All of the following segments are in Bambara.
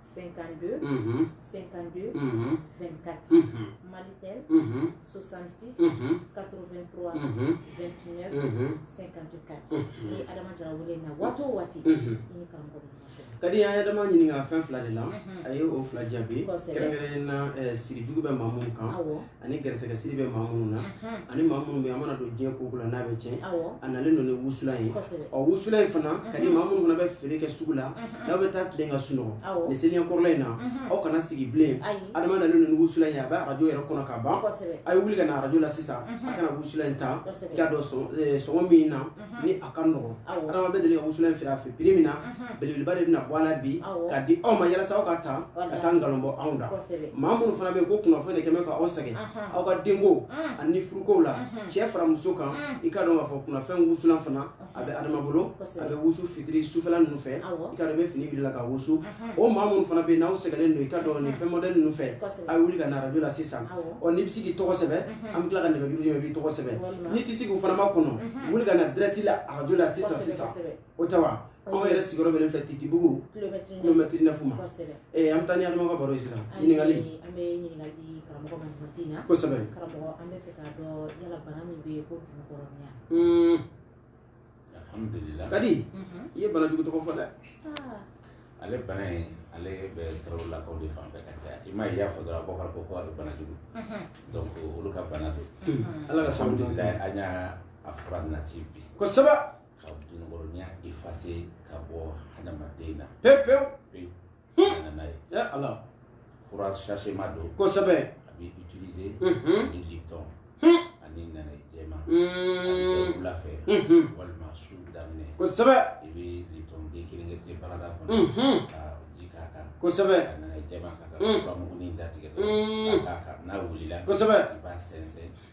52 52 24 Malitel 66 83 29 54 n'i ye Adama Jara wele na waati o waati i ni karamɔgɔ bɛ ɲɔgɔn sɔrɔ Kadi an ye Adama ɲininka fɛn fila de la a ye o fila jaabi kɛrɛnkɛrɛnnen na siri jugu bɛ maa minnu kan awɔ. ani garisɛgɛsiri bɛ maa minnu na ani maa minnu bɛ a mana don diɲɛ ko o ko la n'a bɛ tiɲɛ a nalen don ni wusulan ye ɔ wusulan in fana Kadi maa minnu fana bɛ feere kɛ sugu la n'aw bɛ taa tilen ka sunɔgɔ nin seliɲɛ kɔrɔla in na aw kana sigi bilen adama nalen don ni wusulan ye a bɛ arajo yɛrɛ kɔnɔ ka ban a ye wuli ka na arajo la sisan a ka na wusulan in ta i k'a dɔn sɔngɔ min na ni a ka nɔgɔn adama bɛ deli ka wusulan in feere a fɛ prix min na belebeleba de bɛna bɔ a la bi k'a di aw ma yalasa aw k'a ta ka taa nkalon bɔ anw da maa minnu fana bɛ yen ko kunnafɛn de kɛlen bɛ ka aw sɛgɛn aw ka denko ani furukow la cɛ fara muso kan i k'a dɔn k'a fɔ kunnafɛn wusulan fana a bɛ adama bolo a bɛ wusu fitiri sufɛla ninnu fɛ i k'a dɔn i bɛ fini biri i la ka wusu o maa minnu fana bɛ yen n'aw sɛgɛnnen don i k'a dɔn nin fɛn mɔdɛli ninnu fɛ a ye wuli ka na arajo la sisan ɔ n'i bɛ se k'i tɔgɔ sɛbɛn an bɛ tila ka nɛgɛjuru d'i ma i b'i tɔgɔ sɛbɛn n'i tɛ se k'o fana makɔnɔ wuli ka na dirɛti la arajo la sisan sisan o tɛ wa anw yɛrɛ sigiyɔrɔ bɛ nin fɛ Titibugu kilomɛtiri nɛfu ma ee an bɛ taa ni adama ka baro ye sisan ɲininkali an bɛ ɲininkali di karamɔgɔ ma nin waati in na kosɛbɛ karamɔgɔ an bɛ fɛ k'a dɔn yala bana min bɛ yen ko dunukɔrɔninya kadi i ye bana jugu tɔgɔ fɔ dɛ ale bana in ale bɛ tarawelelakaw de fan fɛ ka caya i m'a ye i y'a fɔ dɔrɔn abubakar ko ko a bɛ bana jugu donc olu ka bana don ala ka sabu alhamdulillah an y'a a fura nati bi kosɛbɛ ka dunukɔrɔninya efase ka bɔ hadamaden na pewu pewu an nana n'a ye ya ala fura sasema don kosɛbɛ a bɛ utiliser Mhm. ni Lipton Hmm. ani nanaye jɛman a bɛ kɛ wula fɛ Mhm. walima su daminɛ kosɛbɛ i bɛ Lipton den kelen kɛ te barada kɔnɔ Mhm. ka ji k'a kan kosɛbɛ ka nanaye jɛman k'a kan Mm. furamugunin datigɛ Mm. ka k'a kan n'a wulila kosɛbɛ i b'a sɛnsɛn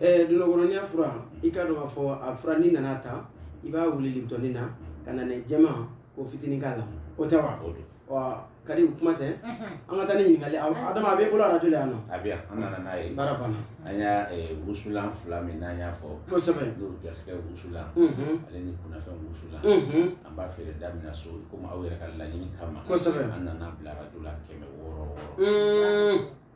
eh, dunukɔrɔninya fura i k'a dɔn k'a fɔ a fura n'i nan'a ta i b'a wuli libitɔni na ka nanaye jɛman k'o fitinin k'a la o tɛ wa wa kadi kuma tɛ an ka taa ni ɲininkali adama a b'i bolo arajo la yan nɔ a bɛ yan an nana n'a ye baara banna an y'a eh, wusulan fila min n'an y'a fɔ kosɛbɛ n'o garisigɛ wusulan ale ni kunnafɛn wusulan an b'a feere da min na so komi aw yɛrɛ ka laɲini kama kosɛbɛ an nan'a bila arajo la kɛmɛ wɔɔrɔ wɔɔrɔ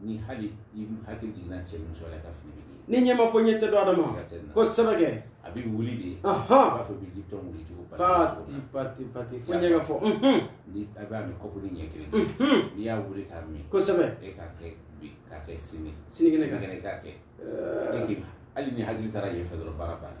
ni hali i hakili jiginna cɛ ni muso la i ka fini bɛ ɲigin ni ɲɛ ma fɔ ɲɛ tɛ dɔn adama Siga tɛ na. kosɛbɛ kɛ a bɛ wuli de i Ahan. b'a fɔ i bɛ Lipton wuli cogo pati pati pati fo ɲɛ ka fɔ unhun, ni a b'a min kɔpunin ɲɛ kelen unhun. n'i y'a wuli k'a min kosɛbɛ e k'a kɛ bi k'a kɛ sini Sinikɛnɛ kan. sinikɛnɛ k'a kɛ e k'i hali n'i hakili taara yen fɛ dɔrɔn baara banna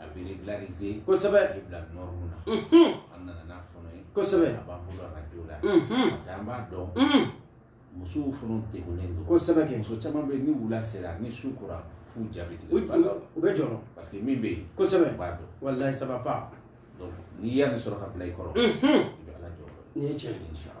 A bɛ régulariser kosɛbɛ k'i bila norme na an nana n'a fana ye kosɛbɛ a b'an bolo arajo la parce que an b'a dɔn musow fana degunnen don kosɛbɛ kɛ muso caman bɛ yen ni wula sera ni su kora f'u ja bɛ tigɛ u bɛ jɔrɔ parce que min bɛ yen kosɛbɛ u b'a dɔn walayi ça va pas donc n'i y'a nin sɔrɔ k'a bila i kɔrɔ i bɛ ala jɔ n'i ye cɛ nin sɔrɔ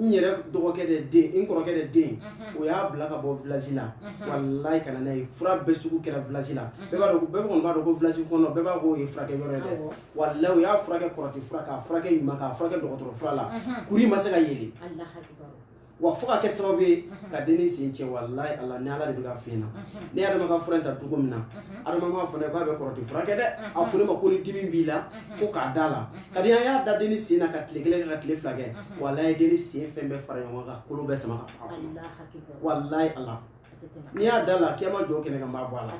n yɛrɛ dɔgɔkɛ de den n kɔrɔkɛ de den o y'a bila ka bɔ village la walayi ka na n'a ye fura bɛɛ sugu kɛra village la bɛɛ b'a dɔn bɛɛ kɔni b'a dɔn ko village kɔnɔ bɛɛ b'a ko o ye furakɛ yɔrɔ ye dɛ walayi u y'a furakɛ kɔrɔti fura k'a furakɛ ɲuman k'a furakɛ dɔgɔtɔrɔ fura la kuru in ma se ka yeli wa fo ka kɛ sababu ye ka dennin sen cɛ walayi ala ni ala de bɛ ka f'i ɲɛ na ne ye adama ka fura in ta cogo min na adama m'a fɔ ne k'a bɛ kɔrɔti furakɛ dɛ a ko ne ma ko ni dimi b'i la ko k'a da la kadi an y'a da denni sen na ka tile kelen kɛ ka tile fila kɛ walayi denni sen fɛn bɛɛ fara ɲɔgɔn kan kolo bɛɛ sama ka bɔ a kɔnɔ walayi ala n'i y'a da la k'i ma jɔ kɛnɛ kan n b'a bɔ a la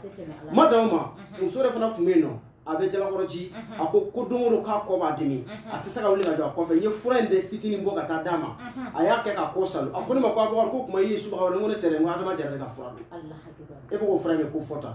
ma dan o ma muso yɛrɛ fana tun bɛ yen nɔ a bɛ jalakɔrɔji a ko ko don o don k'a kɔ b'a dimi a tɛ se ka wuli ka jɔ a kɔfɛ n ye fura in de fitinin bɔ ka taa d'a ma a y'a kɛ k'a kɔ saalo a ko ne ma ko abubakar ko kuma i ye subaga wɛrɛ n ko ne tɛ dɛ n ko adama jara de ka fura don e bɛ k'o fura in de ko fɔ tan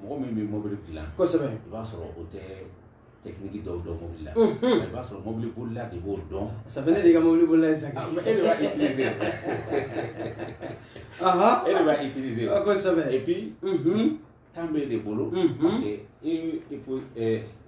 mɔgɔ min bɛ mobili dilan kosɛbɛ i b'a sɔrɔ o tɛ technique dɔw dɔn mobili la i b'a sɔrɔ mobili bolila de b'o dɔn sabu ne de ka mobili bolila ye sa e de b'a utiliser e de b'a utiliser kosɛbɛ et puis temps b'e de bolo parce que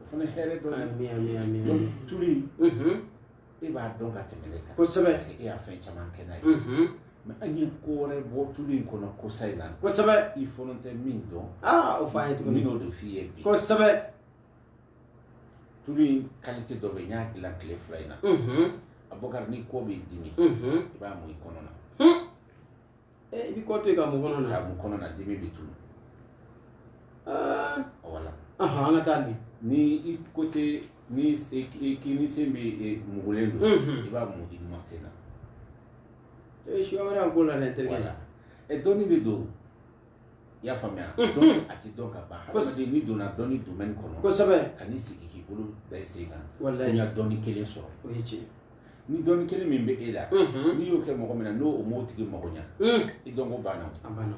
o fana hɛrɛ dɔ ye tulu in e b'a dɔn ka tɛmɛ ne kan kosɛbɛ parce que e y'a fɛn caman kɛ n'a ye mais an ye ko wɛrɛ bɔ tulu in kɔnɔ kosa in na kosɛbɛ i fana tɛ min dɔn o fɔ an ye tuguni n y'o de f'i ye bi kosɛbɛ tulu in kalite dɔ bɛ yen n y'a dilan tile fila in na abubakar ni kɔ b'i dimi i b'a mun i kɔnɔ na i bɛ kɔ to yen k'a mun kɔnɔ na k'a mun kɔnɔ na dimi bɛ tunu voilà an ka taa di ni i kɔ tɛ n'i kinin sen bɛ mugulen don i b'a mun i numan sen na ee suya wɛrɛ an ko la dɛ n terikɛ voilà dɔnni de don i y'a faamuya dɔnni a tɛ dɔn ka ban hadamaden n'i donna dɔnni domaine kɔnɔ kosɛbɛ kana i sigi k'i bolo da i sen kan ko walayi n y'a dɔnni kelen sɔrɔ o ye tiɲɛ ye ni dɔnni kelen min bɛ e la n'i y'o kɛ mɔgɔ min na n'o m'o tigi mago ɲa i dɔnko banna a banna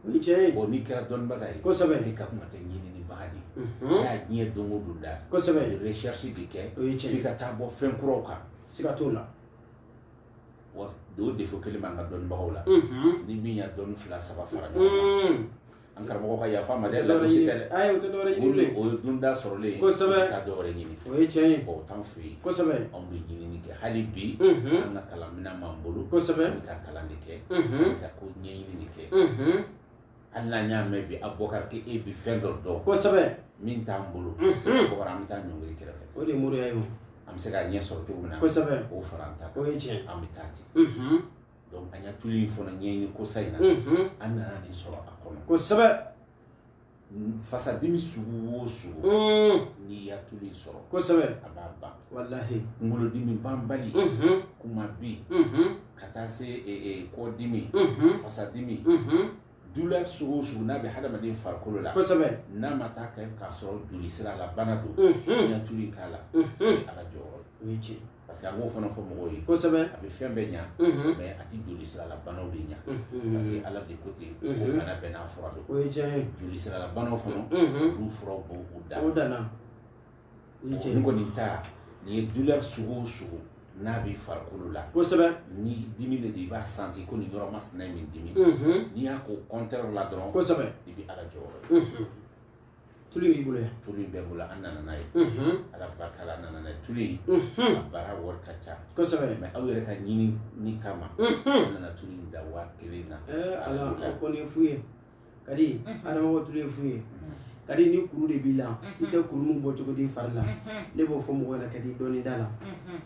o ye tiɲɛ ye bon n'i kɛra dɔnnibaga ye kosɛbɛ i ka kan ka kɛ ɲininibaga de ye n'a diɲɛ don o don da kosɛbɛ recherche de kɛ o ye tiɲɛ ye f'i ka taa bɔ fɛn kuraw kan siga t'o la wa o défaut kelen b'an ka dɔnnibagaw la ni min y'a dɔnni fila saba fara ɲɔgɔn kan An karamɔgɔ ka yafa ma dɛ, lagosi tɛ dɛ, ayi o tɛ dɔwɛrɛ ye, o ye dunda sɔrɔlen ye, kosɛbɛ, ka taa dɔwɛrɛ ɲini, o ye tiɲɛ ye, o t'an fɛ yen, kosɛbɛ, anw bɛ ɲinini kɛ hali bi, unhun, an ka kalan minɛn b'an bolo, kosɛbɛ, an bɛ ka kalan de kɛ, unhun, an bɛ ka ko ɲɛɲini de kɛ, unhun, hali n'an y'a mɛn bi Abubakari ko e bɛ fɛn dɔ dɔn, kosɛbɛ, min t'an bolo, unhun, Abubakari an bɛ taa ɲɔngiri kɛrɛfɛ, o de ye moriya ye o, an bɛ se k'a ɲɛ sɔrɔ cogo min na, kosɛbɛ, k'o fara an ta kan, o ye tiɲɛ ye, an bɛ taa ten, unhun donc an y'a tulu in fana ɲɛɲini kosa in na an nana nin sɔrɔ a kɔnɔ kosɛbɛ fasadimi sugu o sugu n'i y'a tulu in sɔrɔ kosɛbɛ a b'a ban walahi kunkolodimi banbali kunmabin ka taa se e, e, kɔdimi fasadimi douleur sugu o sugu n'a bɛ hadamaden farikolo la kosɛbɛ n'a ma taa kɛ k'a sɔrɔ joli sira la bana don n'i y'a tulu in k'a la a ka jɔyɔrɔ o ye tiɲɛ parce que an b'o fana fɔ mɔgɔw ye kosɛbɛ a bɛ fɛn bɛɛ ɲa mais a tɛ joli sirala banaw de ɲa parce que ala de ko ten ko bana bɛɛ n'a fura don o ye tiɲɛ ye joli sirala banaw fana olu furaw b'o dan o danna o ye tiɲɛ ye kɔni ta nin ye douleur sugu o sugu n'a b'i farikolo la kosɛbɛ ni dimi de don i b'a sentir ko nin yɔrɔ masina ye min dimi n'i y'a k'o contraire la dɔrɔn kosɛbɛ i bɛ ala jɔyɔrɔ ye tulu b'i bolo yan tulu in bɛ bolo an nana n'a ye ala barika la an nana n'a ye tulu in a baara wari ka ca kosɛbɛ mais aw yɛrɛ ka ɲinini kama an nana tulu in da waa kelen na ala o kɔni ye fu ye kadi adama ka tulu ye fu ye kadi ni kuru de b'i la i tɛ kuru min bɔ cogo dɔn i fari la ne b'o fɔ mɔgɔw ɲɛna kadi dɔɔni d'a la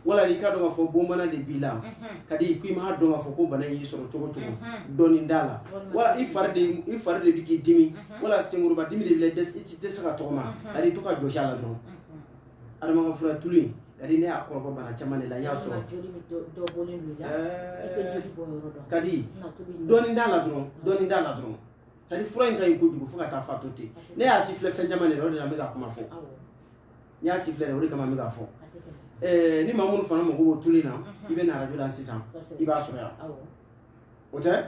wala i k'a dɔn k'a fɔ bon bana de b'i la kadi ko i m'a dɔn k'a fɔ ko bana in y'i sɔrɔ cogo cogo dɔɔni d'a la wala i fari de i fari de bɛ k'i dimi wala senkoroba dimi de b'i la i tɛ se ka tɔgɔma kadi to k'a jɔsi a la dɔrɔn adama ka fura tulu in kadi ne y'a kɔrɔbɔ bana caman de la n y'a sɔrɔ kadi dɔɔni d'a la dɔrɔn dɔɔni d'a la dɔrɔn c'est à dire fura in ka ɲi kojugu fo ka taa fa to ten ne y'a sifilɛ fɛn caman de la o de la n bɛ ka kuma fɔ n y'a sifilɛ de o de kama n bɛ k'a fɔ eh, ni maa minnu fana mago b'o tulu in na i bɛ na arajo la sisan i b'a sɔrɔ yan o tɛ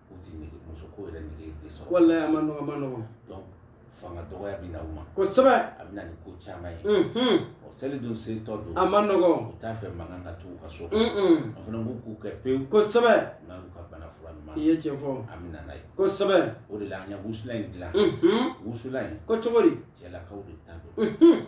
o tɛ nege muso ko yɛrɛ nege tɛ sɔrɔ walahi a man nɔgɔ a man nɔgɔ donc fanga dɔgɔya bɛ na u ma kosɛbɛ a bɛ na ni ko caman ye ɔ seli don setɔ don a man nɔgɔ u t'a fɛ mankan ka to u ka so an fana b'u k'u kɛ pewu kosɛbɛ n'a y'u ka bana fura ɲuman i ye tiɲɛ fɔ an bɛ na n'a ye kosɛbɛ o de la an ye wusulan in dilan wusulan in ko cogo di cɛlakaw de ta don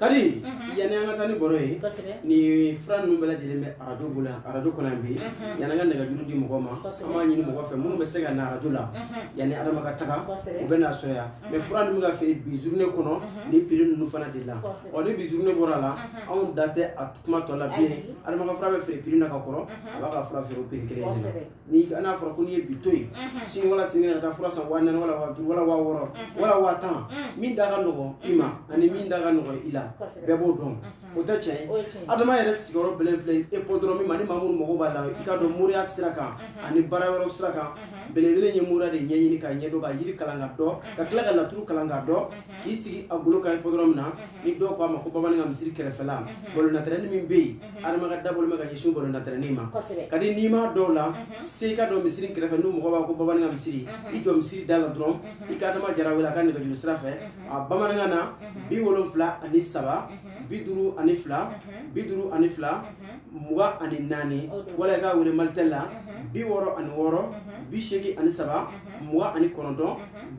kadi yanni an ka taa ni baro ye ni fura ninnu bɛɛ lajɛlen bɛ arajo bolo yan arajo kɔnɔ yan bi yanni an ka nɛgɛjuru di mɔgɔw ma an b'a ɲini mɔgɔw fɛ minnu bɛ se ka na arajo la yanni adama ka taga u bɛ n'a sɔrɔ yan mais fura ninnu ka feere bi journée kɔnɔ ni prix ninnu fana de la ɔ ni bi journée bɔra la anw da tɛ a kuma tɔ la bilen adama ka fura bɛ feere prix na ka kɔrɔ a b'a ka fura feere o prix kelen de la ni n'a fɔra ko n'i ye bi to yen sini wala sini ka taa fura san waa naani wala waa duuru wala waa wɔɔrɔ wala waa tan min da ka nɔgɔn i ma ani min da ka nɔgɔn i la bɛɛ b'o dɔn o tɛ tiɲɛ ye adama yɛrɛ sigiyɔrɔ bɛlɛn filɛ hippodrome ma ni maa minnu mago b'a la i k'a dɔn moriya sira kan ani baara yɔrɔ sira kan belebele ye moriya de ɲɛɲini k'a ɲɛdɔn ka yiri kalan k'a dɔn ka tila ka laturu kalan k'a dɔn k'i sigi a golo kan hippodrome na ni dɔw ko a ma ko bamanan ka misiri kɛrɛfɛla balon tɛrɛni min bɛ yen Mhm. adama ka da bɔlen bɛ ka ɲɛsin balon tɛrɛni ma ka di n'i ma dɔw la mhm. se ka jɔ misiri kɛrɛfɛ n'u mɔgɔ b'a ko bamanan ka misiri mhm. i jɔ misiri da la dɔrɔn i ka adama jara wele a ka nɛgɛjuru sira fɛ a bamanankan na bi wolonfila ani saba bi duuru ani fila bi duuru ani fila mugan ani naani wala i k'a wele malitɛli la bi wɔɔrɔ ani wɔɔrɔ bi seegin ani saba mugan ani kɔnɔntɔn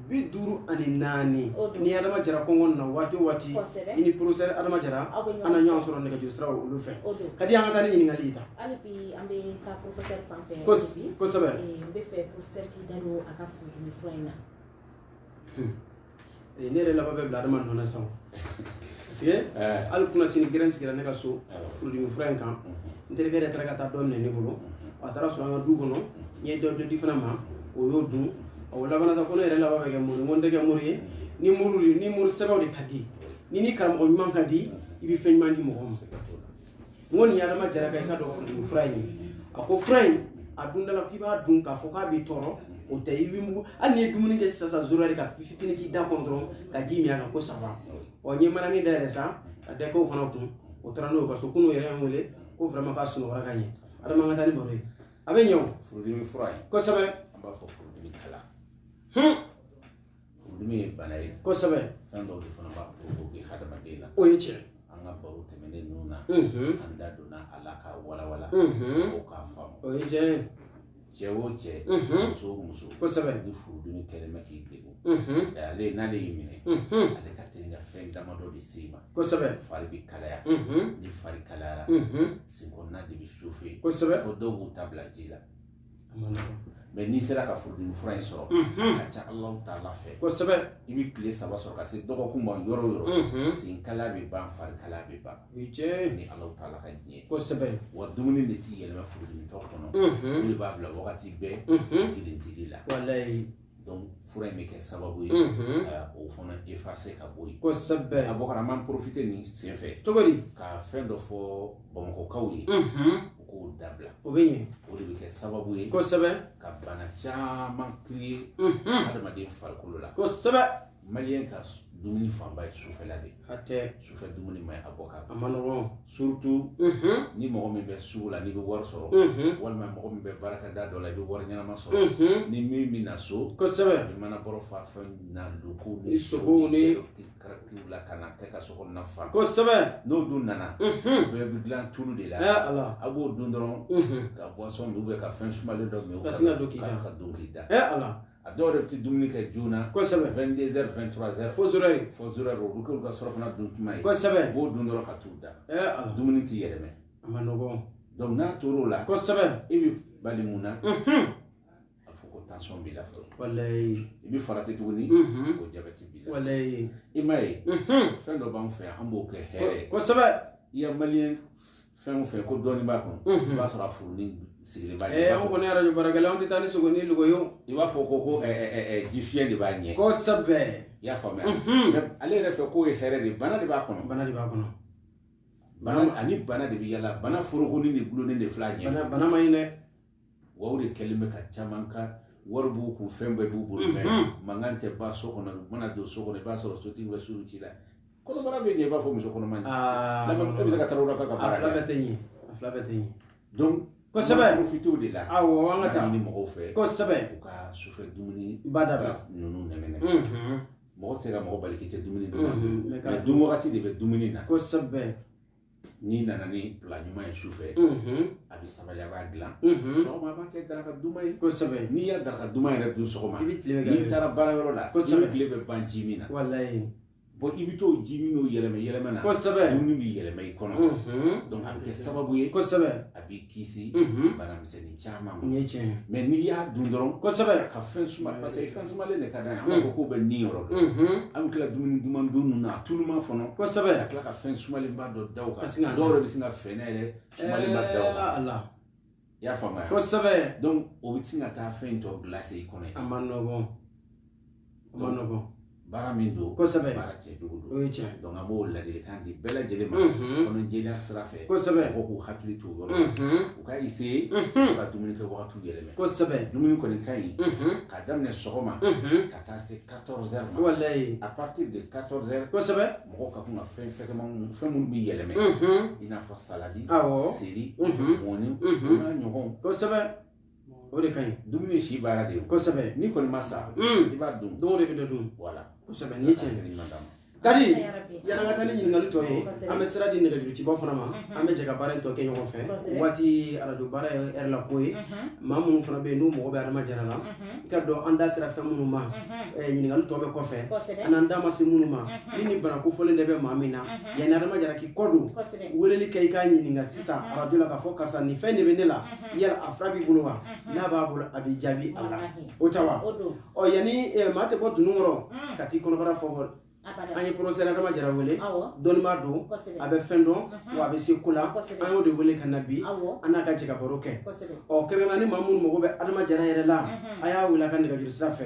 bi duuru ani naani ni adama jara kɔngɔ na waati o waati i ni professeur adama jara aw na ɲɔgɔn sɔrɔ nɛgɛjuru sira olu fɛ ka di an ka taa ni ɲininkali ta kosɛbɛ ne yɛrɛ laban bɛ bila adama nɔ na sisan parce que hali kunasini gɛrɛn sigira ne ka so furudimi fura in kan n terikɛ yɛrɛ taara ka taa dɔ minɛ ne bolo a taara sɔrɔ an ka du kɔnɔ n ye dɔ dɔ di fana ma o y'o dun o labanna sa ko ne yɛrɛ laban bɛ kɛ mori n ko n tɛ kɛ mori ye ni mori ni mori sɛbɛw de ka di ni ni karamɔgɔ ɲuman ka di i bɛ fɛn ɲuman di mɔgɔ ma n ko nin ye adama jara ka i k'a dɔn furudimi fura in ye a ko fura in a dundala k'i b'a dun k'a fɔ k'a b'i tɔɔrɔ o tɛ i b'i mugu hali n'i ye dumuni kɛ sisan sisan zoro yɛrɛ ka fitini k'i da kɔnɔ dɔrɔn ka ji min a kan ko saba ɔ n ye manani dayɛlɛ sa ka dɔ kɛ o fana kun o taara n'o ye a ka so kunun yɛrɛ ye n wele ko vraiment k'a sunɔgɔra ka ɲɛ adama an ka taa ni baro ye a bɛ ɲɛ o furudimi fura ye kosɛbɛ an b'a fɔ furudimi kala furudimi ye bana ye kosɛbɛ fɛn dɔw de fana b'a provoquer hadamaden na o ye tiɲɛ an ka baro tɛmɛnen ninnu na an da donna a la k'a walawala mɔgɔw k'a faamu o ye tiɲɛ ye cɛ o cɛ muso o muso kosɛbɛ ni furudimi kɛlen bɛ k'i degun ale n'ale y'i minɛ ale ka teli ka fɛn damadɔ de se i ma kosɛbɛ fari bɛ kalaya ni fari kalayara senkɔnɔna de bɛ chauffer kosɛbɛ fo dɔw b'u ta bila ji la mais n'i sera ka furudimi fura in sɔrɔ a ka ca Alahu Taala fɛ kosɛbɛ i bɛ tile saba sɔrɔ ka se dɔgɔkun ma yɔrɔ o yɔrɔ senkala bɛ ban farikala bɛ ban ni Alahu Taala ka diɲɛ kosɛbɛ wa dumuni de tɛ yɛlɛma furudimitɔ kɔnɔ o de b'a bila wagati bɛɛ girintili la fura in bɛ kɛ sababu ye ka o fana effacer ka bɔ yen kosɛbɛ a bɔkarama profiter nin senfɛ cogo di ka fɛn dɔ fɔ bamakɔkaw ye u k'o dabila o bɛ ɲɛ o de bɛ kɛ sababu ye kosɛbɛ ka bana caman créer hadamaden farikolo la kosɛbɛ Maliyɛn ka dumuni fanba ye sufɛla de ye sufɛ dumuni ma ɲi a bɔ ka a ma nɔgɔn surtout ni mɔgɔ min bɛ sugu la n'i bɛ wari sɔrɔ walima mɔgɔ min bɛ baarakɛda dɔ la i bɛ wari ɲɛnama sɔrɔ ni min bɛ na so kosɛbɛ mana bɔrɔ fa fɛn na logo ni sogo ni la ka na kɛ ka so kɔnɔna fa kosɛbɛ n'o dun nana bɛɛ bɛ dilan tulu de la a b'o dun dɔrɔn ka boisson min ka fɛn sumalen dɔ min ka don k'i da ka don k'i da a dɔw yɛrɛ bɛ tɛ dumuni kɛ joona kosɛbɛ 22 heures 23 heures fo zéro heure fo zéro heure olu k'olu ka surafana dun tuma ye kosɛbɛ u b'o dun dɔrɔn ka t'u da a dumuni t'i yɛlɛmɛ a ma nɔgɔn donc n'a tor'o la kosɛbɛ i bɛ bali mun na a fɔ ko tension b'i la fɔlɔ walayi i bɛ farati tuguni ko jabɛti b'i la walayi i m'a ye fɛn dɔ b'an fɛ yan an b'o kɛ hɛrɛ ye kosɛbɛ i ya maliyɛn fɛn o fɛn ko dɔɔnin b'a kɔnɔ i b'a sɔrɔ a furunin sigilen b'a ɲɛ an kɔni arajo baarakɛla an tɛ taa ni sogo ni logo ye i b'a fɔ ko ko jifiyɛn de b'a ɲɛ kosɛbɛ i y'a faamuya ale yɛrɛ fɛ k'o ye hɛrɛ de bana de b'a kɔnɔ bana de b'a kɔnɔ ani bana de bɛ yala bana forokonin de dulonnen de filɛ a ɲɛ bana ma ɲi dɛ Wa o de kɛlen bɛ ka caman kan wari b'u kun fɛn bɛɛ b'u bolo mais mankan tɛ ban so kɔnɔ u mana don so kɔnɔ i b'a sɔrɔ sotigi bɛ su ci la kɔnɔbara bɛ i b'a fɔ muso kɔnɔma bɛ se ka taa la ka tɛsɛbɛ fi de la aw an ka taa ɲini mɔgɔw fɛ kosɛbɛ u ka sufɛ dumuni ba da ninnu nɛgɛ mɔgɔ tɛ se ka mɔgɔ bali k'i tɛ dumuni dun mais dun wagati de bɛ dumuni na kosɛbɛ n'i nana ni plat ɲuman ye su fɛ a bɛ sabali a b'a dilan sɔgɔma a b'a kɛ daraka duman ye kosɛbɛ n'i ye daraka duman yɛrɛ dun sɔgɔma i bɛ tile bɛɛ n'i taara baara yɔrɔ la i bɛ tile bɛɛ ban ji min na walayi bon i bɛ t'o ji min n'o yɛlɛmɛ yɛlɛmɛ na kosɛbɛ dumuni bɛ yɛlɛmɛ i kɔnɔ donc a bɛ kɛ sababu ye kosɛbɛ a b'i kisi bana misɛnnin caman ma. Nin ye tiɲɛ ye. Mais n'i y'a dun dɔrɔn. Kosɛbɛ. Ka fɛn suma parce que fɛn sumalen de ka d'an ye. An b'a fɔ k'o bɛ ni yɔrɔ dɔn. An bɛ tila dumuni duman dun ninnu na a tuluma fana. Kosɛbɛ. Ka tila ka fɛn sumalenba dɔ da o kan. Ka sin ka dɔw yɛrɛ bɛ sin ka fɛnɛ yɛrɛ sumalenba da o kan. Ɛɛ Ala. I y'a faamuya. Kosɛbɛ. Donc o bɛ sin ka taa fɛn in tɔ glace i kɔnɔ yen. A man nɔgɔn. baara min don kosɛbɛ baara cɛjugu don o ye tiɲɛ donc an b'o ladilikan di bɛɛ lajɛlen ma kɔnɔjɛlenya sira fɛ kosɛbɛ mɔgɔw k'u hakili to o yɔrɔ la u ka essayer u ka dumuni kɛ wagatiw yɛlɛmɛ kosɛbɛ dumuni kɔni ka ɲi ka daminɛ sɔgɔma ka taa se 14 heures ma walayi à partir de 14 heures kosɛbɛ mɔgɔw ka kan ka fɛn fɛgɛman minnu fɛn minnu bɛ yɛlɛmɛ i n'a fɔ saladi awɔ seri mɔni o n'a ɲɔgɔnw kosɛbɛ o de ka ɲi dumuni ye si baara de ye kosɛbɛ n'i kɔni ma sa i b'a dun don o de bɛ dɔ dun voilà kosɛbɛ n'i ye cɛ ɲini ɲuman d'a ma kadi yanni an ka taa ni ɲininkali tɔ ye an bɛ sira di nɛgɛjuruciba fana ma an bɛ jɛ ka baara in tɔ kɛ ɲɔgɔn fɛ waati arajo baara ye ɛri la ko ye maa minnu fana bɛ yen n'u mago bɛ adama jara la i k'a dɔn an da sera fɛn minnu ma ɲininkali tɔ bɛ kɔfɛ an n'an da ma se minnu ma ni ni bana kofɔlen de bɛ maa min na yanni adama jara k'i kɔ don weleli kɛ i k'a ɲininka sisan arajo la k'a fɔ karisa nin fɛn de bɛ ne la yala a fura b'i bolo wa n'a b'a bolo a b'i jaabi a la o tɛ wa ɔ yanni maa tɛ bɔ dunun kɔrɔ ka t'i kɔnɔbara fɔ an ye professeur adama jara wele dɔnnibaa don a bɛ fɛn dɔn wa a bɛ se ko la an y'o de wele ka na bi an n'a ka jɛ ka baro kɛ ɔ kɛrɛnkɛrɛnnenya ni maa minnu mago bɛ adama jara yɛrɛ la a y'a wele a ka nɛgɛjuru sira fɛ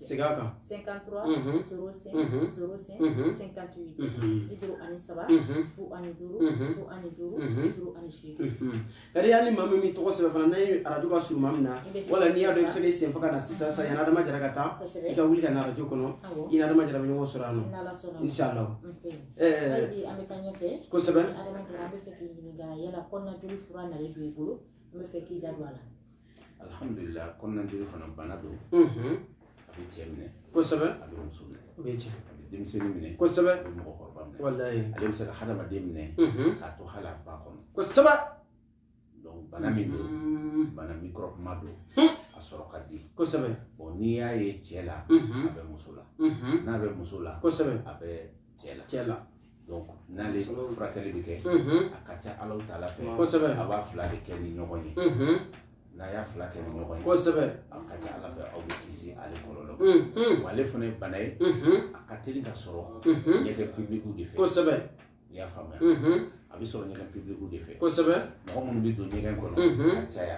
Segin a kan. 53 unhun 05 unhun 05 unhun 58 unhun 53 unhun 05 unhun 05 unhun 58 unhun kadi hali maa min min tɔgɔ sɛbɛn fana n'a ye arajo ka surun maa min na wala n'i y'a dɔn i bɛ se k'i senfa ka na sisan sisan yanni adama jara ka taa i ka wuli ka na arajo kɔnɔ i ni adama jara bɛ ɲɔgɔn sɔrɔ yan nɔ inshallah kosɛbɛ adama jara an bɛ fɛ k'i ɲininka yala kɔnɔnajoli fura nalen don i bolo an bɛ fɛ k'i da don a la alhamdulillah kɔnɔna jeli fana bana don a bɛ cɛ minɛ kosɛbɛ a bɛ muso minɛ o ye tiɲɛ a bɛ denmisɛnnin minɛ kosɛbɛ a bɛ mɔgɔkɔrɔba minɛ walayi ale bɛ se ka hadamaden minɛ k'a to hali a ba kɔnɔ kosɛbɛ donc bana min don bana mikɔrɔbuma don a sɔrɔ ka di kosɛbɛ bon n'i y'a ye cɛ la a bɛ muso la n'a bɛ muso la kosɛbɛ a bɛ cɛ la donc n'ale furakɛli bɛ kɛ a ka ca alahu taala fɛ kosɛbɛ a b'a fila de kɛ ni ɲɔgɔn ye n'a y'a fila kɛ ni ɲɔgɔn ye kosɛbɛ a ka ca ala fɛ aw bɛ kisi ale kɔlɔlɔ wa ale fana ye bana ye a ka teli ka sɔrɔ ɲɛgɛn pibilikiw de fɛ kosɛbɛ i y'a faamuya a bɛ sɔrɔ ɲɛgɛn pibilikiw de fɛ kosɛbɛ mɔgɔ minnu bɛ don ɲɛgɛn kɔnɔ ka caya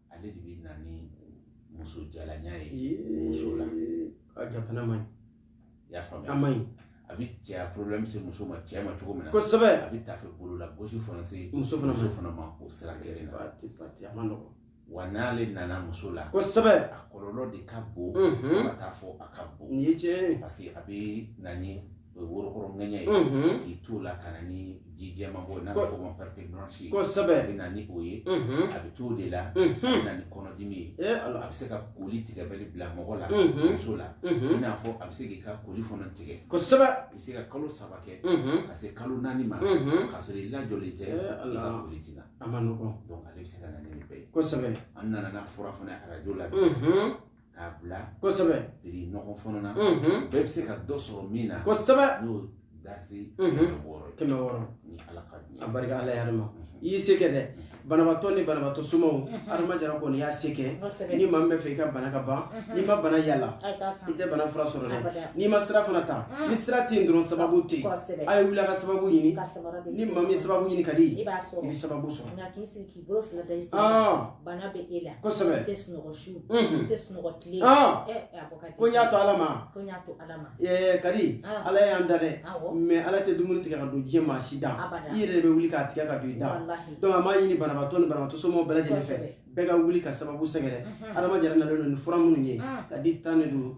ale de bɛ na ni muso jalanya ye muso la a ja fana man ɲi y'a faamuya a man ɲi a bɛ cɛya problème se muso ma cɛ ma cogo min na kosɛbɛ a bɛ tafe bolo la gosi fana se muso fana muso fana ma o sira kelen na pati pati a man nɔgɔn wa n'ale nana muso la kosɛbɛ a kɔlɔlɔ de ka bon fo ka taa fɔ a ka bon nin ye tiɲɛ ye parce que a bɛ na ni worokɔrɔ ŋɛɲɛ ye mhm. k'i t'o la ka na ni ji jɛman bɔ n'a bɛ fɔ o ma perte blanche ye kosɛbɛ a bɛ na ni o ye mhm. a bɛ t'o de la a bɛ na ni kɔnɔdimi ye eh, a bɛ se ka koli tigɛbali bila mɔgɔ la muso la i n'a fɔ a bɛ se k'i ka koli fana tigɛ kosɛbɛ i bɛ se ka kalo saba kɛ ka se kalo naani ma k'a sɔrɔ i lajɔlen tɛ eh, i ka koli tɛ na a man nɔgɔn donc ale bɛ se ka na ni nin bɛɛ ye kosɛbɛ an nana n'a fura fana arajo la k'a bila kosɛbɛ prix nɔgɔ fɔlɔ na bɛɛ bɛ se ka dɔ sɔrɔ min na kosɛbɛ n'o dasi kɛmɛ wɔɔrɔ kɛmɛ wɔɔrɔ ni ala ka diɲɛ a barika ala yɛrɛ ma i y'i se kɛ dɛ banabaatɔ ni banabaatɔ somaw adama jara kɔni y'a se kɛ ni maa min bɛ fɛ i ka bana ka ban n'i ma bana yala i tɛ bana fura sɔrɔ dɛ n'i ma sira fana ta ni sira tɛ yen dɔrɔn sababu tɛ yen a ye wuli a ka sababu ɲini ni maa min sababu ɲini ka di i bɛ sababu sɔrɔ bolo fila da i sen bana bɛ e la kosɛbɛ i tɛ sunɔgɔ su i tɛ sunɔgɔ tile ɛ a bɔ kadi ko n y'a to ala ma ko n y'a to ala ma ɛɛ kadi ala y'an da dɛ mais ala tɛ dumuni tigɛ ka don diɲɛ maa si da i yɛrɛ de bɛ wuli k'a tigɛ ka don i da donc an b'a ɲini banabaatɔ ni banabaatɔ somɔgɔw bɛɛ lajɛlen fɛ bɛɛ ka wuli ka sababu sɛgɛrɛ adama jara nalen don ni fura minnu ye kadi tan de don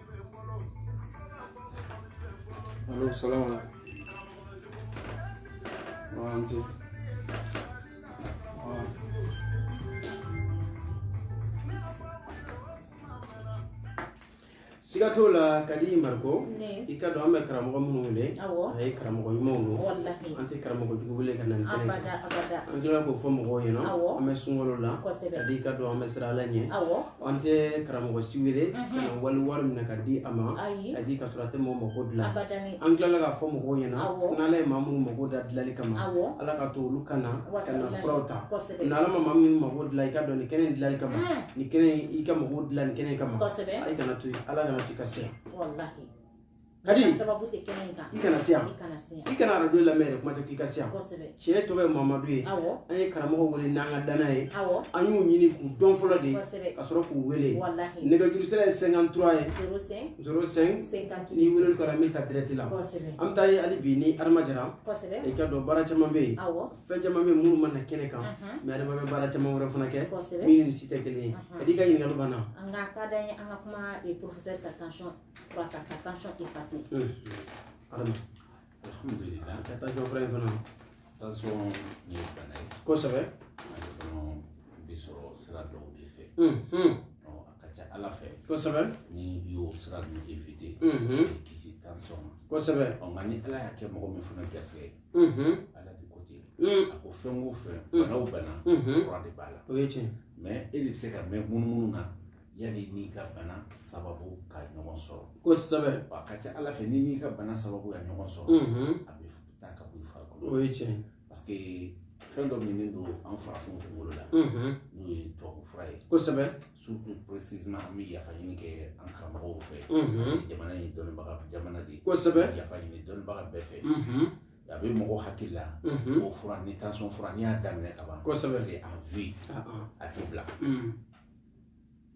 Alo salam ala. Wanti. siga t'o la kadi mariko i k'a dɔn an bɛ karamɔgɔ minnu wele a ye karamɔgɔ ɲumanw don an tɛ karamɔgɔ jugu wele ka na nin kɛnɛ an tilala k'o fɔ mɔgɔw ɲɛna an bɛ sunkalo la kadi i k'a dɔn an bɛ siran ala ɲɛ An tɛ karamɔgɔ si wele ka na wali wari minɛ k'a di a ma kadi ka sɔrɔ a tɛ maaw mako dilan an tilala k'a fɔ mɔgɔw ɲɛna n'ala ye maa minnu mako da dilanli kama ala k'a to olu ka na ka na furaw ta n'ala ma maa minnu mako dilan i k'a dɔn nin kɛnɛ in dilanli kama nin kɛnɛ i ka mako dilan nin kɛnɛ kama i kana to ala kana to i ka se kadi sababu tɛ kɛnɛ in kan i kana se yan i kana arajo lamɛn yɛrɛ kuma tɛ k'i ka se yan tiɲɛ tɔgɔ ye mamadu ye an ye karamɔgɔ wele n'an ka dana ye an y'u ɲini k'u dɔn fɔlɔ de ka sɔrɔ k'u wele nɛgɛjuru sira ye 53 ye 05 ni weleli kɛra min ta direct la an bɛ taa ɲɛ hali bi ni adama jara i k'a dɔn baara caman bɛ yen fɛn caman bɛ yen minnu ma na kɛnɛ kan mais adama bɛ baara caman wɛrɛ fana kɛ min ni si tɛ kelen ye kadi i ka ɲininkali banna a ka d'an ye an ka kuma professeur ka tension fura ta ka tansɔn efase adama alhamdulila ka tansɔn fura in fana tansɔn ye bana ye kosɛbɛ ale fana bɛ sɔrɔ sira dɔw de fɛ a ka ca ala fɛ kosɛbɛ ni i y'o sira ninnu evite i kisi tansɔn ma kosɛbɛ nka ni ala y'a kɛ mɔgɔ min fana garisigɛ ala de ko ten a ko fɛn o fɛn bana o bana fura de b'a la o ye tiɲɛ mais e de bɛ se ka mɛn munumunu na yanni n'i ka bana sababu ka ɲɔgɔn sɔrɔ kosɛbɛ a ka ca ala fɛ n'i n'i ka bana sababu ye ɲɔgɔn sɔrɔ a bɛ taa ka bɔ i farikolo o ye tiɲɛ parce que fɛn dɔ minɛnen don an farafinw kunkolo la n'o ye tubabu fura ye kosɛbɛ surtout précisément an bɛ yafa ɲini kɛ an karamɔgɔw fɛ jamana in dɔnnibaga jamana de ye kosɛbɛ yafa ɲini dɔnnibaga bɛɛ fɛ a bɛ mɔgɔ hakili la o fura ni tansɔn fura n'i y'a daminɛ ka ban kosɛbɛ c'est à vie a tɛ bila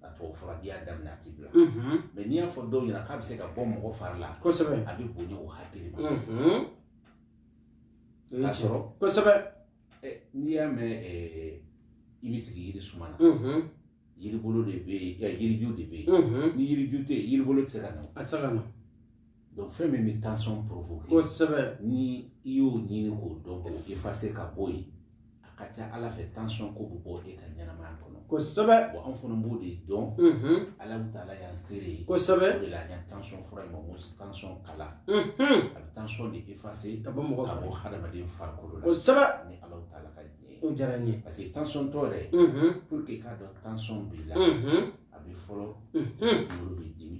a tubabu fura n'i y'a daminɛ a ti bila mais n'i y'a fɔ dɔw ɲɛna k'a bɛ se ka bɔ mɔgɔ fari la kosɛbɛ a bɛ bonya o hakili ma k'a sɔrɔ kosɛbɛ n'i y'a mɛn i bɛ sigi yiri suma na yiribolo de bɛ yen yiriju de bɛ yen ni yiriju tɛ yen yiribolo tɛ se ka na a tɛ se ka na donc fɛn min bɛ tension provoquer kosɛbɛ ni i y'o ɲini k'o dɔn k'o effacer ka bɔ yen a ka ca ala fɛ tension ko bɛ bɔ e ka ɲɛnamaya kɔnɔ kosɛbɛ bon an fana b'o de dɔn ala taala y'an seere ye kosɛbɛ o de la an y'an tension fura in ma ko tension kala a bɛ tension de effacer ka bɔ mɔgɔ ka bɔ hadamaden farikolo la kosɛbɛ ni ala taala ka diɲɛ ye o diyara n ye parce que tension tɔ yɛrɛ pour que i k'a dɔn tension b'i la a bɛ fɔlɔ kunkolo b'i dimi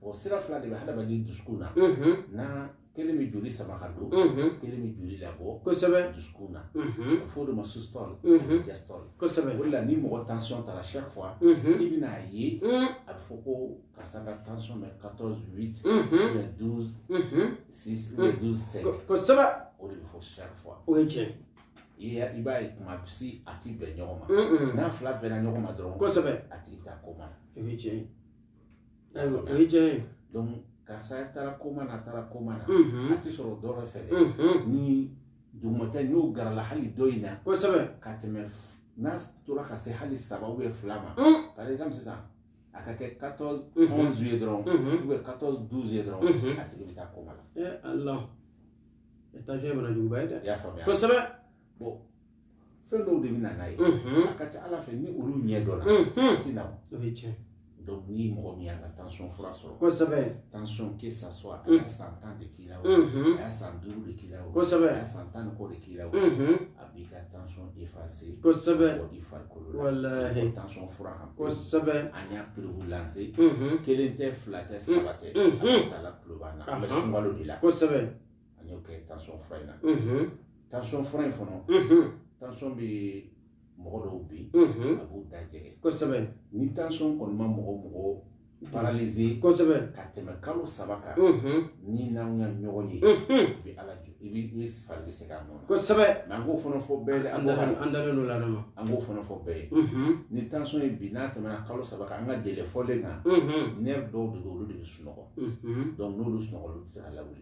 o sira fila de bɛ hadamaden dusukun na na kelen bɛ joli sama ka don kelen bɛ joli labɔ kosɛbɛ dusukun na a f'o de ma systole diastole kosɛbɛ o de la ni mɔgɔ tension tara chaque fois i bɛna a ye a bɛ fɔ ko karisa ka tension bɛ 14 8 ou bien 12 6 ou bien 12 5 kosɛbɛ o de bɛ fɔ chaque fois o ye tiɲɛ i b'a ye kuma si a ti bɛn ɲɔgɔn ma n'a fila bɛnna ɲɔgɔn ma dɔrɔn kosɛbɛ a tigi bɛ taa koma na o ye tiɲɛ ye Ayiwa o ye tiɲɛ ye donc karisa taara koma na taara koma na a tɛ sɔrɔ dɔ wɛrɛ fɛ dɛ ni dugumata n'o garala hali dɔ in na kosɛbɛ ka tɛmɛ n'a tora ka se hali saba ou bien fila ma par exemple sisan a ka kɛ 14 11 ye dɔrɔn ou bien 14 12 ye dɔrɔn a tigi bɛ taa koma la eh Allah tension ye banajuguba ye dɛ i y'a faamuya kosɛbɛ bon fɛn dɔw de bɛ na n'a ye a ka ca ala fɛ ni olu ɲɛ dɔnna a tɛ na o ye tiɲɛ donc ni mɔgɔ min y'a ka tension fura sɔrɔ kosɛbɛ tension que ça soit a y'a san tan de k'i la o a y'a san duuru de k'i la o kosɛbɛ a y'a san tan ni kɔ de k'i la o a b'i ka tension effacer kosɛbɛ bɔ i farikolo la walahi tension fura kan kosɛbɛ an y'a preuve lancer kelen tɛ fila tɛ saba tɛ ala taala kulo b'an na an bɛ sunkalo de la kosɛbɛ an y'o kɛ tension fura in na tension fura in fana tension bɛ mɔgɔ dɔw bɛ yen a b'u da jɛngɛ kosɛbɛ ni tension kɔni ma mɔgɔ mɔgɔ paralyser kosɛbɛ ka tɛmɛ kalo saba kan ni n'an ka ɲɔgɔn ye bɛ ala jɔ i bɛ i fari bɛ segin a nɔ kosɛbɛ mais an k'o fana fɔ bɛɛ ye an an dalen don la ma an k'o fana fɔ bɛɛ ye ni tension ye bi n'a tɛmɛna kalo saba kan an ka délai fɔlen kan nerf dɔw de don olu de bɛ sunɔgɔ donc n'olu sunɔgɔ olu bɛ se ka lawuli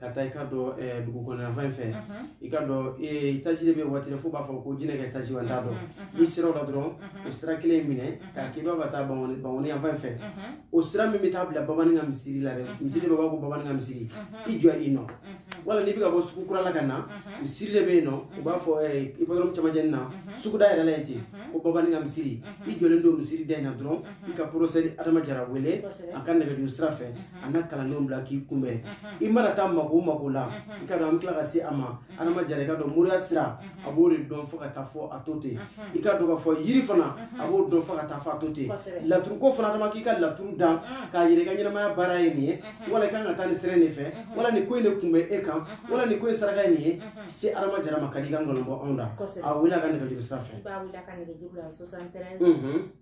ka taa i ka dɔn eh, dugu kɔnɔna fan fɛ i ka dɔn étage de bɛ waati fo b'a fɔ ko jinɛ ka étage wa n t'a dɔn n'i sera o la dɔrɔn o sira kelen minɛ k'a k'i bɛ ka taa bankoni yanfan fɛ o sira min bɛ taa bila bamanin ka misiri la dɛ misiri de b'a fɔ ko bamanin ka misiri i jɔ i nɔ wala n'i bɛ ka bɔ sugu kura la ka na misiri de bɛ yen nɔ u b'a fɔ hippodrome camancɛ na suguda yɛrɛ la yen ten ko bamanin ka misiri i jɔlen don misiri da in na dɔrɔn i ka professeur adama jara wele a ka nɛgɛjuru sira fɛ a n'a kalandenw bila k'i kunbɛn i mana taa mako mako la i ka dɔn an bɛ tila ka se a ma adama jara i ka dɔn moriya sira a b'o de dɔn fo ka taa fɔ a to ten i ka dɔn k'a fɔ yiri fana a b'o dɔn fo ka taa fɔ a to ten laturuko fana adama k'i ka laturu da k'a yira i ka ɲɛnamaya baara ye nin ye wala i kan ka taa nin sira in de fɛ wala nin ko in de kun bɛ e kan wala nin ko in saraka ye nin ye se adama jara ma ka di i ka nkalon bɔ anw da a wele a ka nɛgɛjuru sira fɛ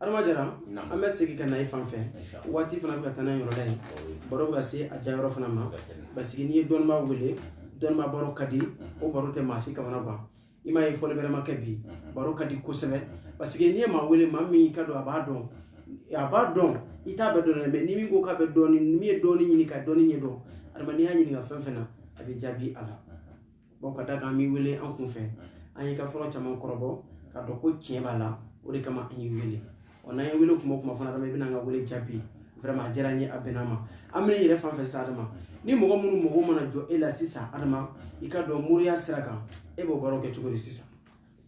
adama jara an bɛ segin ka na i fan fɛ waati fana bɛ ka taa n'a yɛrɛ ta ye baro bɛ ka se a diya yɔrɔ fana ma parce que n'i ye dɔnnibaa wele dɔnnibaa baro ka di o baro tɛ maa si kamanagan i m'a ye fɔli bɛrɛ ma kɛ bi baro ka di kosɛbɛ parce que n'i ye maa wele maa min k'a dɔn a b'a dɔn a b'a dɔn i t'a bɛɛ dɔn dɛ mais ni min ko k'a bɛ dɔɔni min ye dɔɔni ɲini ka dɔɔni ɲɛ dɔn adama n'i y'a ɲininka fɛn fɛn na a bɛ jaabi a la bon k'a da kan an b'i wele an kun fɛ an y'i ka fɔlen caman kɔrɔbɔ k'a dɔn ko tiɲɛ b'a la o de kama an y'i wele ɔ n'an y'i wele kuma o kuma fana adama i bɛna an ka wele jaabi vraiment a diyara n ye a bɛnna n ma an bɛ na e yɛrɛ fan fɛ sisan adama ni mɔgɔ minnu mago mana jɔ e la sisan adama i ka dɔn moriya sira kan e b'o baaraw kɛ cogo di sisan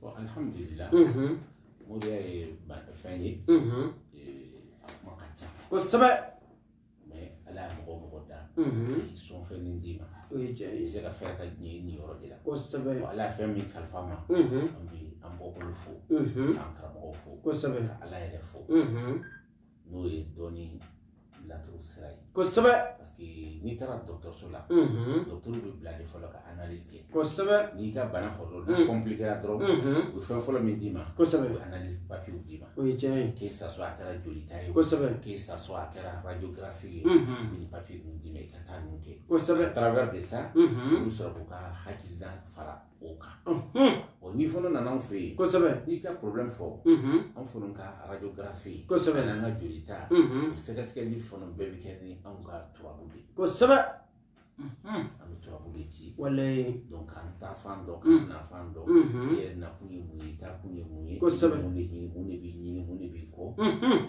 bon alihamudulila moriya ye fɛn ye a kuma ka ca kosɛbɛ ala ye mɔgɔ o mɔgɔ da i sɔn fɛn min d'i ma i bɛ se ka fɛɛrɛ ka diɲɛ nin yɔrɔ de la kosɛbɛ ala ye fɛn min kalifa an ma an bɛ an bɔkolo fo k'an karamɔgɔ fo kosɛbɛ ka ala yɛrɛ fo n'o ye dɔnni laturu sira ye kosɛbɛ parce que n'i taara dɔgɔtɔrɔso la dɔgɔtɔrɔ b'i bila de fɔlɔ ka analyse kɛ kosɛbɛ n'i ka bana fɔlɔ la kɔnplikera dɔrɔn u bɛ fɛn fɔlɔ min d'i ma kosɛbɛ u bɛ analyse papiyew d'i ma o ye tiɲɛ ye que ça soit a kɛra jolita ye kosɛbɛ que ça soit a kɛra radiografi ye u bɛ nin papiye ninnu d'i ma i ka taa ninnu kɛ kosɛbɛ travers de ça olu sɔrɔ k'u ka hakilina fara o kan ɔ n'i fana nana anw fɛ yen kosɛbɛ n'i ka problème fɔ anw fana ka radiografi kosɛbɛ n'an ka jolita o sɛgɛsɛgɛli fana bɛɛ bɛ kɛ ni anw ka turabu de ye kosɛbɛ an bɛ turabu de ci walayi donc k'an taafan dɔn k'an nafan dɔn i yɛrɛ nakun ye mun ye i taakun ye mun ye kosɛbɛ mun de ɲini mun de b'i ɲini mun de b'i kɔ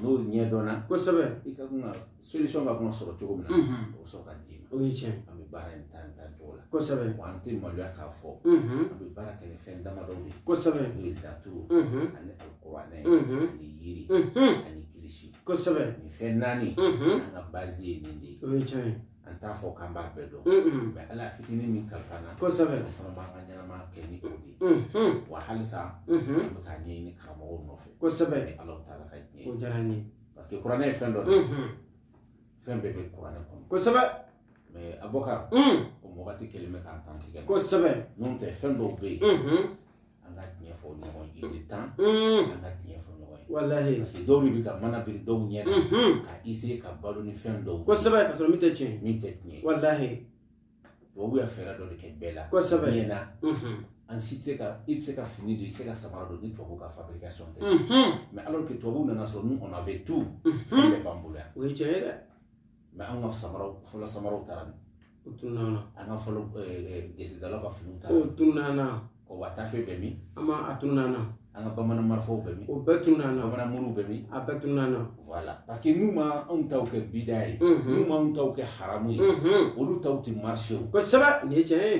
n'o ɲɛdɔnna kosɛbɛ i ka kan ka solution ka kan ka sɔrɔ cogo min na o sɔrɔ ka d'i ma o ye tiɲɛ an bɛ baara in ta nin ta cogo la kosɛbɛ wa an tɛ maloya k'a fɔ an bɛ baara kɛ ni fɛn damadɔ de ye kosɛbɛ n'o ye laturu ani alikuranɛ ani yiri ani kilisi kosɛbɛ nin fɛn naani an ka bazi ye nin de ye o ye tiɲɛ ye an t'a fɔ k'an b'a bɛɛ dɔn mais ala fitinin min kalifa n na kosɛbɛ o fana b'an ka ɲɛnama kɛ ni o de ye wa halisa an bɛ k'a ɲɛɲini karamɔgɔw nɔfɛ kosɛbɛ ni ala taala ka diɲɛ o diyara n ye parce que kuranɛ ye fɛn dɔ de ye fɛn bɛɛ bɛ kuranɛ kɔnɔ kosɛbɛ mais abubakar comme wagati kelen bɛ k'an dantigɛ kosɛbɛ n'o tɛ fɛn dɔw bɛ yen an ka tiɲɛ fɔ ɲɔgɔn ye il est temps an ka tiɲɛ fɔ ɲɔgɔn ye walahi parce que dɔw de bɛ ka mana biri dɔw ɲɛ na ka essayer ka balo ni fɛn dɔw ye kosɛbɛ ka sɔrɔ min tɛ tiɲɛ min tɛ tiɲɛ walahi tubabu ye fɛɛrɛ dɔ de kɛ bɛɛ la kosɛbɛ diɲɛ na an si tɛ se ka i tɛ se ka fini don i tɛ se ka samara don ni tubabu ka fabrication tɛ mais alors que tubabu nana sɔrɔ nous on avait tout fɛn bɛɛ b'an bolo yan o ye tiɲɛ ye dɛ mais an ka samaraw fɔlɔ samaraw taara min o tununna an ka fɔlɔ gesedalaw ka finiw taara o tununna o wa tafe bɛ min an ma a tununna an ka bamanan marifaw bɛ min o bɛɛ tununna bamanan muru bɛ min a bɛɛ tununna voilà parce que n'u ma anw taw kɛ bida ye n'u ma anw taw kɛ haramu ye olu taw tɛ marché o kosɛbɛ nin ye tiɲɛ ye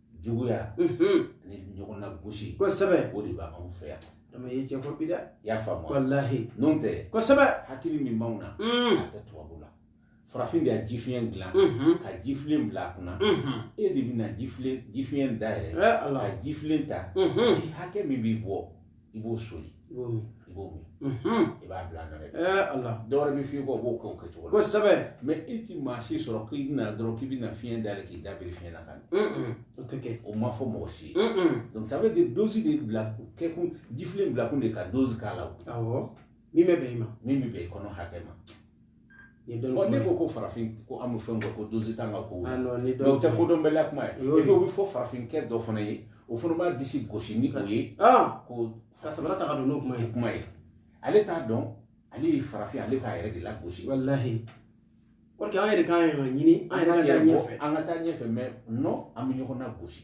juguya ni ɲɔgɔn nagosi kosɛbɛ o de b'anw fɛ yan dama ye tiɲɛ fɔ bi dɛ i y'a faamu walahi n'o tɛ kosɛbɛ hakili min b'anw na a tɛ tubabu la farafin de ye ji fiɲɛ dilan ka ji filen bila a kunna e de bɛna ji fiɲɛ dayɛlɛ ka ji filen ta ji hakɛ min b'i bɔ i b'o soli i b'o min i b'o min i b'a bila nɔ dɛ ala dɔwɛrɛ bɛ f'i kɔ o b'o kɛ o kɛcogo la kosɛbɛ mais i tɛ maa si sɔrɔ k'i bɛna dɔrɔn k'i bɛna fiɲɛ dayɛlɛ k'i da biri fiɲɛ na ka o tɛ kɛ o ma fɔ mɔgɔ si ye donc ça veut dire dose de bila kɛkun jifilen bilakun de ka dose k'a la awɔ min bɛ bɛn i ma min bɛ bɛn i kɔnɔ hakɛ ma ne ko ko farafin ko an bɛ fɛn kɛ ko dose t'an ka ko o tɛ kodɔnbaliya kuma ye o bɛ fɔ farafinkɛ dɔ fana ye o fana b'a disi gosi ni o ye ko ka sabara ta ka don n'o kuma ye kuma ye ale t'a dɔn ale ye farafin ale k'a yɛrɛ de lagosi walahi an yɛrɛ k'an yɛrɛ ɲini an yɛrɛ ka taa ɲɛfɛ an ka taa ɲɛfɛ mais non an bɛ ɲɔgɔn nagosi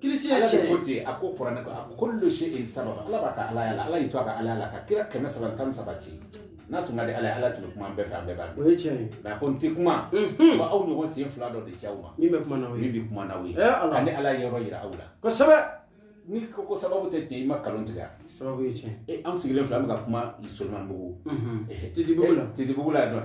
kilisi ye tiɲɛ ko ten a ko kuranɛ ko a ko kullu shay'in sababa ala b'a ka ala yala ala y'i to a ka ala la ka kira kɛmɛ saba tan saba ci n'a tun ka di ala ye ala tun bɛ kuma an bɛɛ fɛ an bɛɛ b'a dɔn o ye tiɲɛ ye nka a ko n tɛ kuma wa aw ɲɔgɔn sen fila dɔ de ci aw ma min bɛ kuma n'aw ye min bɛ kuma n'aw ye ka ni ala ye yɔrɔ yira aw la kosɛbɛ ni ko ko sababu tɛ tiɲɛ i ma kalon tigɛ sababu ye tiɲɛ an sigilen filɛ an bɛ ka kuma solomanibugu titibugu la titibugu la dɔn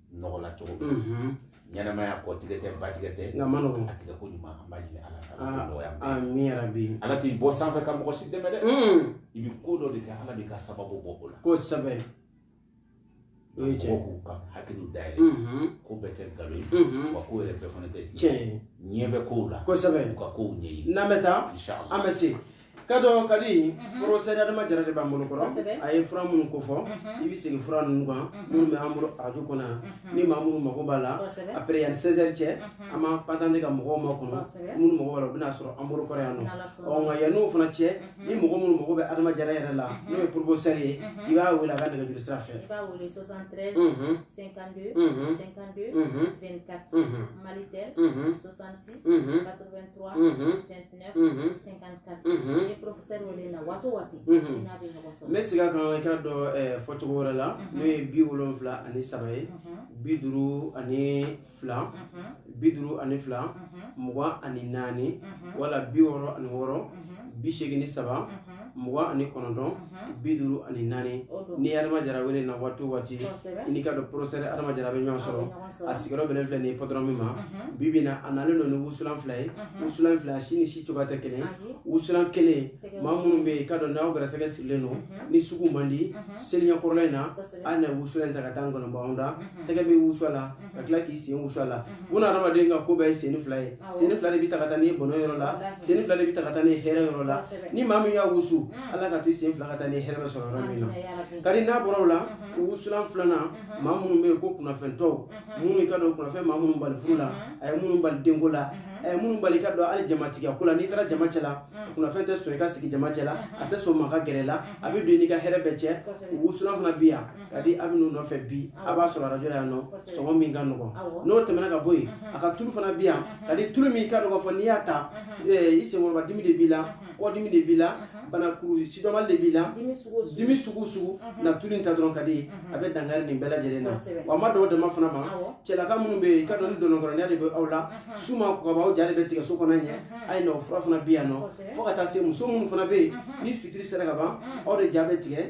nɔgɔ la cogo min na ɲɛnamaya kɔ tigɛ tɛ ba tigɛ tɛ nka ma nɔgɔn a tigɛ ko ɲuman an b'a ɲini ala fɛ ala ka nɔgɔya bɛɛ ye. amina yarabi ala t'i bɔ sanfɛ ka mɔgɔ si dɛmɛ dɛ i bɛ ko dɔ de kɛ ala b'i ka sababu bɔ o la kosɛbɛ o ye tiɲɛ mɔgɔw k'u ka hakiliw dayɛlɛ ko bɛɛ tɛ nkalon ye Mhm. wa ko yɛrɛ bɛɛ fana tɛ tiɲɛ ye ɲɛ bɛ kow la kosɛbɛ u ka kow ɲɛɲini n'an bɛ taa Inshallah. an bɛ se ka dɔ ka di professeur adama jara de b'an bolo kɔrɔ a ye fura minnu ko fɔ i bɛ segin fura ninnu kan minnu bɛ an bolo arajo kɔnɔ yan ni maa minnu mago b'a la après yanni 16 heures cɛ an b'an patante ka mɔgɔw makɔnɔ minnu mago b'a la u bɛna sɔrɔ an bolo kɔrɔ yan nɔ ɔ nka yann'o fana cɛ ni mɔgɔ minnu mago bɛ adama jara yɛrɛ la n'o ye professeur ye i b'a wele a ka nɛgɛjuru sira fɛ i b'a wele 73 52 52 24 malitel 66 83 29 n bɛ segin a kan i k'a dɔn fɔcogo wɛrɛ la n'o ye bi wolonwula ani saba ye bi duuru ani fila bi duuru ani fila mugan ani naani wala bi wɔɔrɔ ani wɔɔrɔ bi segin ni saba mugan ani kɔnɔntɔn bi duuru ani naani ni adama jara wele na waati o waati n'i ka dɔn professeur adama jara bɛ ɲɔgɔn sɔrɔ a sigiyɔrɔ bɛnnen filɛ nin ye patɔrɔn min ma bi bi na a nalen don ni wusulan fila ye wusulan fila si ni si cogoya tɛ kelen ye wusulan kelen maa minnu bɛ yen i ka dɔn n'aw gɛrɛsɛgɛ sirilen don ni sugu man di seliɲɛkɔrɔla in na a na wusulan in ta ka taa nkɔnɔbaw da tɛgɛ bɛ wusu a la ka tila k'i sen wusu a la bun adamaden ka ko bɛɛ ye sen fila ye sen fila de bɛ ta ka taa n'i ye bɔnɛ yɔrɔ la sen fila de bɛ ta ka taa n'i ye hɛrɛ yɔrɔ la ni maa min y'a wusu ala ka to i sen fila ka taa n'i ye hɛrɛ bɛ sɔrɔ yɔrɔ min na kadi n'a bɔra o la wusulan filanan maa minnu bɛ yen ko kunnafɛntɔw minnu i ka dɔn kunnafɛn maa minnu bali furu la a ye minnu bali denko la a ye minnu bali i ka dɔn hali jamatigɛ ko la n'i taara jama cɛ la kunnafɛn tɛ sɔn i ka sigi jama cɛ la a tɛ sɔn maa ka gɛrɛ i la a bɛ don i n'i ka hɛrɛ bɛɛ cɛ wusulan fana bɛ yan ka di a bɛ n'o nɔfɛ bi a b'a sɔrɔ arajo la yan nɔ sɔngɔ min ka nɔgɔn n'o tɛmɛna ka bɔ yen a ka tulu fana bi yan ka di tulu min i ka dɔn k'a fɔ n'i y'a ta i senkɔrɔba dimi de b'i la kɔdimi de b'i la banakuru sidɔnbali de b'i la dimi sugu sugu na tulu in ta dɔrɔn ka di a bɛ dankari nin bɛɛ lajɛlen na wa a ma dan o dama fana ma cɛlaka minnu bɛ yen i ka dɔn ni dɔnɔnkɔrɔnya de bɛ aw la su ma ko ka ban aw ja de bɛ tigɛ so kɔnɔ ɲɛ a ye nɔ fura fana bi yan nɔ fo ka taa se muso minnu fana bɛ yen ni fitiri sera ka ban aw de ja bɛ tigɛ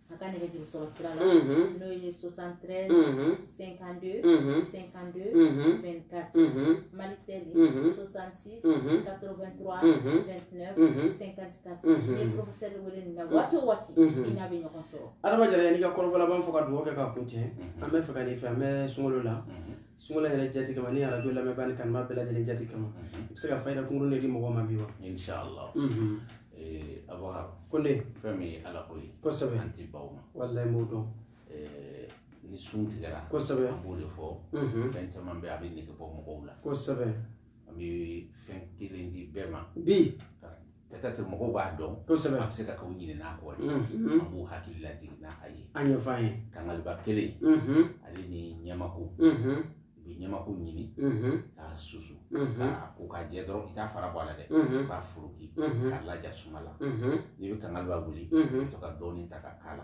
A ka nɛgɛjuru sɔrɔ sira la n'o ye 73 52 52 24 Malitel 66 83 29 54 n'i ye professeur wele nin na waati o waati i n'a bɛ ɲɔgɔn sɔrɔ Adama Jara yan'i ka kɔrɔfɔ laban fɔ ka dugawu kɛ k'a kuncɛ an b'a fɛ k'a ɲin'i fɛ an bɛ sunkalo la sunkalo yɛrɛ jati kama ni arajo lamɛnbaa ni kanubaa bɛɛ lajɛlen jati kama mhm. i bɛ se ka fayida kunkurunnin de di mɔgɔw ma bi wa inshallah mhm. eh, abakar kɔni fɛn min ye ala ko ye kosɛbɛ an ti ban o ma walayi m'o dɔn eh, ni sun tigɛra kosɛbɛ an b'o de fɔ mhm. fɛn caman bɛ a bɛ nege bɔ mɔgɔw la kosɛbɛ an bɛ fɛn kelen di bɛɛ ma bi peut-être mɔgɔw b'a dɔn kosɛbɛ a bɛ se ka k'u ɲinɛna a kɔ de an b'u hakili lajigin n'a a ye a ɲɛfɔ an ye kangaliba kelen ale ni ɲamaku i bɛ ɲamaku ɲini k'a susu k'a ko k'a jɛ dɔrɔn i t'a fara bɔ a la dɛ k'a foroki k'a laja suma la n'i bɛ kangaliba wuli i bɛ to ka dɔɔnin ta ka k'a la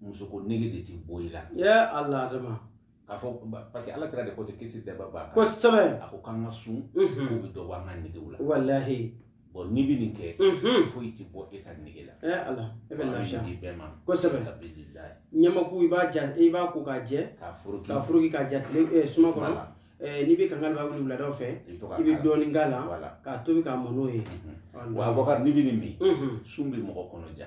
musoko nege de ti bɔ i la ya ala adama k'a fɔ parce que ala kira de ko ten kisi nɛɛma b'a kan kosɛbɛ a ko k'an ka sun k'o bɛ dɔ bɔ an ka negew la walahi bon n'i bɛ nin kɛ foyi tɛ bɔ e ka nege la ɛ ala e bɛ lafiya di bɛɛ ma kosɛbɛ sabililayi ɲamaku i b'a ja i b'a ko k'a jɛ k'a foroki k'a foroki k'a ja tile suma kɔnɔ n'i bɛ kangaliba wuli wuladaw fɛ i bɛ dɔɔnin k'a la k'a tobi k'a mɔ n'o ye wa abubakar n'i bɛ nin min sun bɛ mɔgɔ kɔnɔ ja